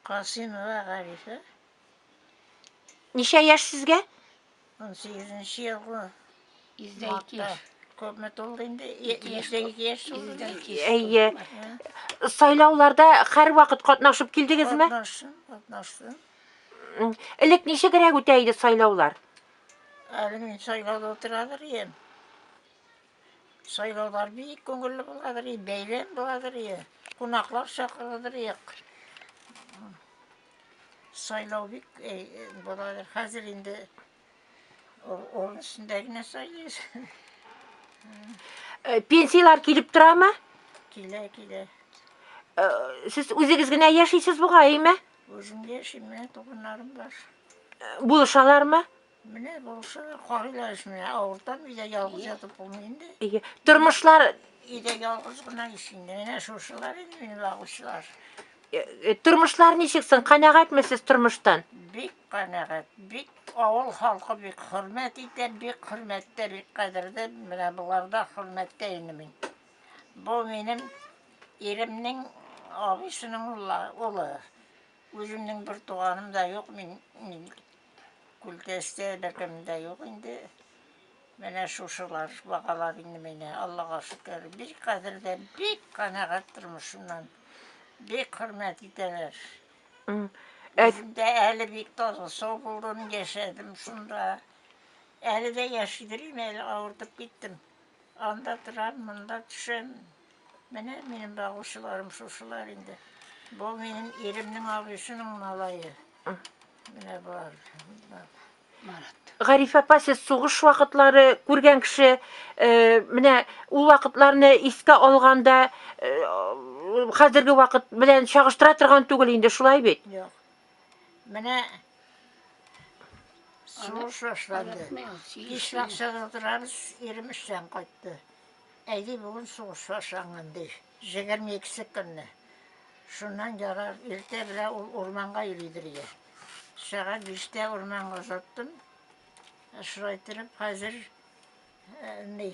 Касыймова Гарифә. Ничә яшь сезгә? 18 елгы. 102 яшь. Күпме тулды инде? 102 яшь тулды. Әйе. Сайлауларда һәрвакыт катнашып килдегезме? Катнаштым, катнаштым. Элек ничегрәк үтә иде сайлаулар? Әле мин сайлауда утырадыр идем. Сайлаулар бик күңелле буладыр, бәйрәм буладыр, кунаклар чакырылыр. Сайлау бик буладыр. Хәзер инде урын өстендә генә сайлыйбыз. Э, пенсияләр килеп торамы? Килә, килә. Э, сез үзегез генә яшисез бугай, әйме? Үзем яшим, менә туганнарым бар. Э, булышалармы? Менә булсы карыйлар эш менә авыртам өйдә ялгыз ятып булмый инде. Әйе. Тормышлар Өйдә ялгыз гына ич инде. Менә шушылар инде минем агучылар. э, э, тормышлар ничек соң? Канәгатьме сез тормыштан? Бик канәгать, бик авыл халкы бик хөрмәт итә, бик хөрмәттә, бик кадердә. Менә боларда хөрмәттә инде мин. Бу минем иремнең абысының улы. Үземнең бер туганым да юк мин. мин Күлдәстә беркем дә юк инде. Менә шушылар, багалар инде мине, Аллага шөкер. Бик кадерле, бик канәгать тормышымнан. Бик хөрмәт итәләр. М. Әт, Үзем дә әле бик таза сау булдым, яшәдем шунда. Әле дә яши дим, әле авыртып киттем. Анда торам, монда төшәм. Менә минем багучыларым шушылар инде. Бу минем иремнең абыйсының малае. Менә бар. Марат. Гариф апа, сез сугыш вакытлары күргән кеше, э, менә ул вакытларны искә алганда, э, хәзерге вакыт белән чагыштыра торган түгел инде, шулай бит? Юк. Менә сугыш башланды. Кич бакчада утырабыз, ирем эштән кайтты. Әйди, бүген сугыш башланган, ди. 22 көнне. Шуннан ярар, иртә белә ул урманга йөридер иде. Сәгать биштә урманга озаттым. Шулай итеп, хәзер э, ни,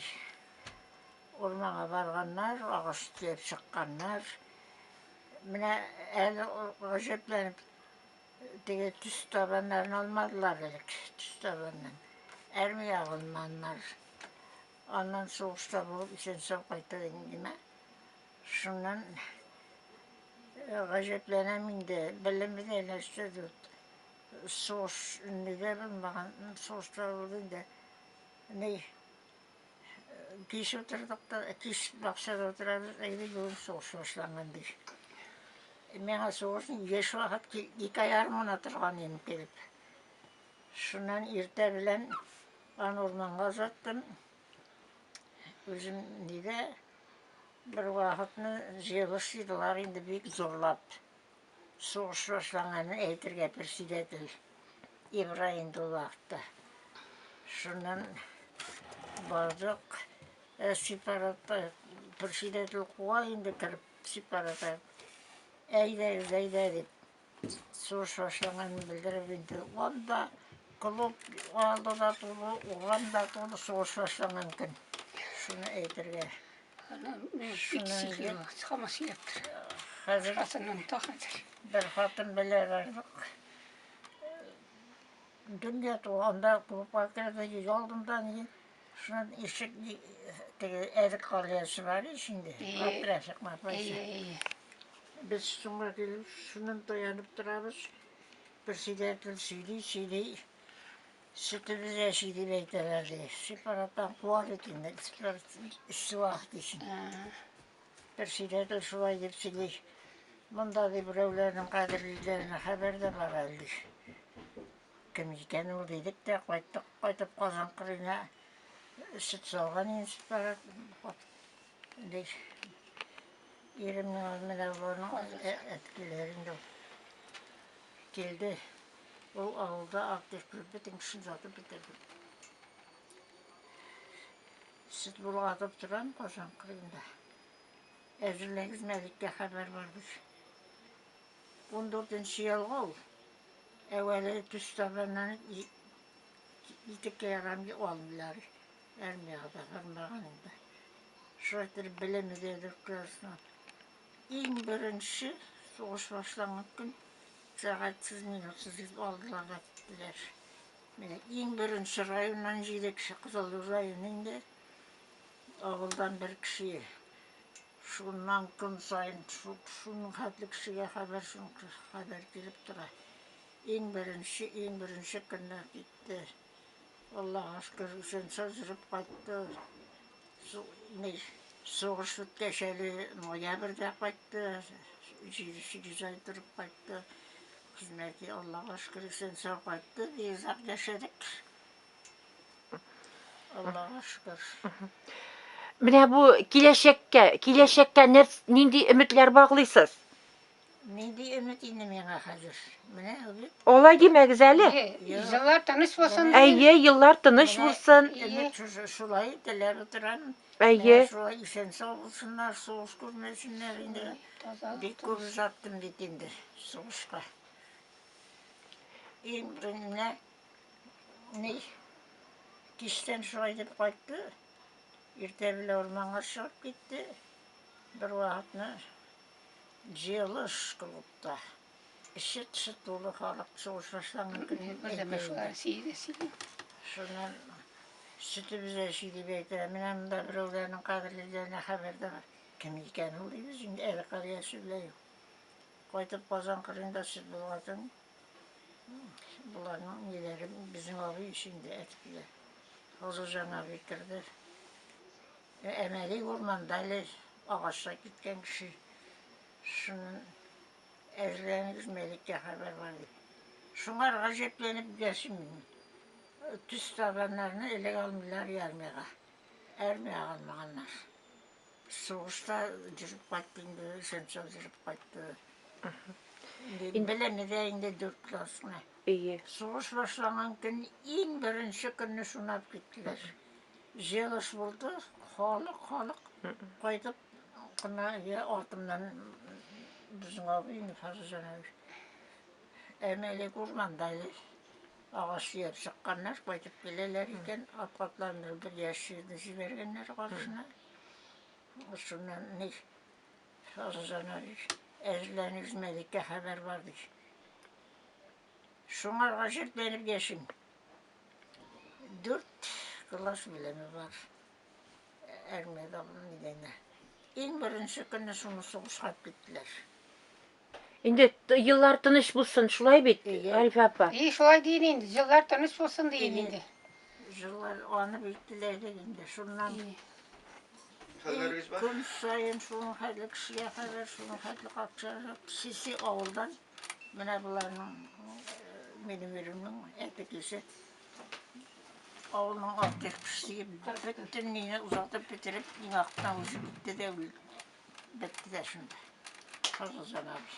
урманга барганнар, агач төяп чыкканнар. Менә әле гаҗәпләнеп, теге төс табаннарын алмадылар элек, төс табаннан. Армия алманнар. Аннан сугышта булып исән-сау кайтып индеме? Шуннан гаҗәпләнәм инде, белемебез әйләнеште дип. Сугыш нигә булмаган? Сугышта булды инде. Ни Кич утырдык та, кич бакчада утырабыз, әйдә юл сугыш башланган ди. Миңа сугыш еш вакыт ике ай армына торган инде килеп. Шуннан иртә белән аны урманга озаттым. Үзем нигә бер вакытны җыелыш җыйдылар инде бик зурлап. Сугыш башланганын әйтергә председатель Ибраһим Дуллаевта. Шуннан бардык, сепаратта председатель куа инде кереп сепаратта. Әйдәгез, әйдә дип. Сугыш башланганын белдереп инде. Анда клуб алды да тулы, уган да тулы сугыш башланган көн. Шуны әйтергә. Бер хатын белә бардык. Дөнья туганда клубка керде, ел алдында ни. Шунан ишек теге эрик калыясы бар ишенде. Апрашык мапрашык. Без шуңа килеп, шунын таянып торабыз. Бер сөйләтел сөйли, сөйли. Сөтебез яши дип әйтәләр ди. Сепараттан куар икән, сепарат эшсе вак дисен. Бер сөйләде шулай дип сөйли. Монда ди берәүләрнең кадерлиләренә хәбәр дә бар әле. Кем икән ул дидек тә кайттык, кайтып Казан кырына сөт салган инде сепарат. Ди. Иремнең менә боларның әткиләрен дә килде. Ул авылда аптек булып бөтен кешене сатып бетердем. Сөт булгатып торам Казан кырыенда. Әзерләгез мәликкә хәбәр бардыр. 14 нче ялга ул. Әвәле төс табаннан ике килограмм алмыйлар. Армияга да бармаган инде. Шулай итеп белеме дә дөркәсен. Иң беренче сугыш башланган көн Сәгатьсез, минутсыз дип алдылар да киттеләр. Менә иң беренче районнан җиде кеше, Кызыллы районы инде, авылдан бер кеше. Шуннан көн саен шуның хәтле кешегә хәбәр, шуның хәбәр килеп тора. Иң беренче, иң беренче көннәр китте. Аллага шөкер, исән-сау җөреп кайтты. Сугыш үткәч әле ноябрьдә кайтты. Җиде-сигез ай торып кайтты. Хезмәти, Аллага шөкер, исән-сау кайтты. Бик озак яшәдек. Аллага шөкер. Менә бу киләчәккә, киләчәккә нәрс, нинди өметләр баглыйсыз? Ни диеме инде миңа хәзер? Менә үзе. Алай димәгез әле. Еллар тыныч булсын. Әйе, еллар тыныч булсын. Шулай теләп утырам. Әйе. Шулай исән сау булсыннар, сугыш күрмәсеннәр инде. Бик күп озаттым бит инде сугышка. Иң беренче ни киштән шулай дип кайтты. Иртә белән урманга чыгып китте. Бер вакытны җыелыш клубта эче тышы тулы халык сугыш башланган көнне шуннан сөтебезне эчи дип әйтә менә монда берәүләрнең кадерлеләренә хәбәр дә бар кем икән ул дибез инде әле кар яше белән юк кайтып казан кырында сөт булгатын боларның ниләре безнең абый өчен дә әтипләр Хозурҗан абый керде Әмәли урманда әле агачы киткән кеше шуннан әзерләнегез, Мәликкә хәбәр бар, ди. Шуңар гаҗәпләнеп дәшим мин. Төс табаннарны элек алмыйлар ярмига. Әрмия алмаганнар. Сугышта җөреп кайтты инде, Шәмшәү җөреп кайтты. Инде белеме дә инде дүрт класс гына. Сугыш башланган көн, иң беренче көнне шунап киттеләр. Җыелыш булды, халык, халык кайтып кына я артымнан безнең абый Нифаз Җанович. Әмәле урманда агач сөяп чыкканнар, кайтып киләләр икән, атлатларында бер яшь җирне җибәргәннәр каршына. Шуннан ни Фазылҗана әзерләнеп үзмәлеккә хәбәр бар ди. Шуңарга җирләнеп яшим. Дүрт класс белеме бар. Армиядә булган иде инде. Иң беренче көнне шуны сугышка киттеләр. Инде т- еллар тыныч булсын, шулай бит, Әйе. Арифә апа? И, шулай дин инде, җилләр тыныч булсын дин инде. Җыллар аны бик теләдек инде. Шуннан И. Хәлләрегез бар? көн саен шуның хәтле кешегә хәбәр, шуның хәтле акча. Сиси авылдан Менә боларның минем иремнең әтекесе. Авылның артык пешсеге бөтен нигә озатып бетереп, иң артына үзе китте дә үлде. Бетте дә шунда. Кыргыздан абый.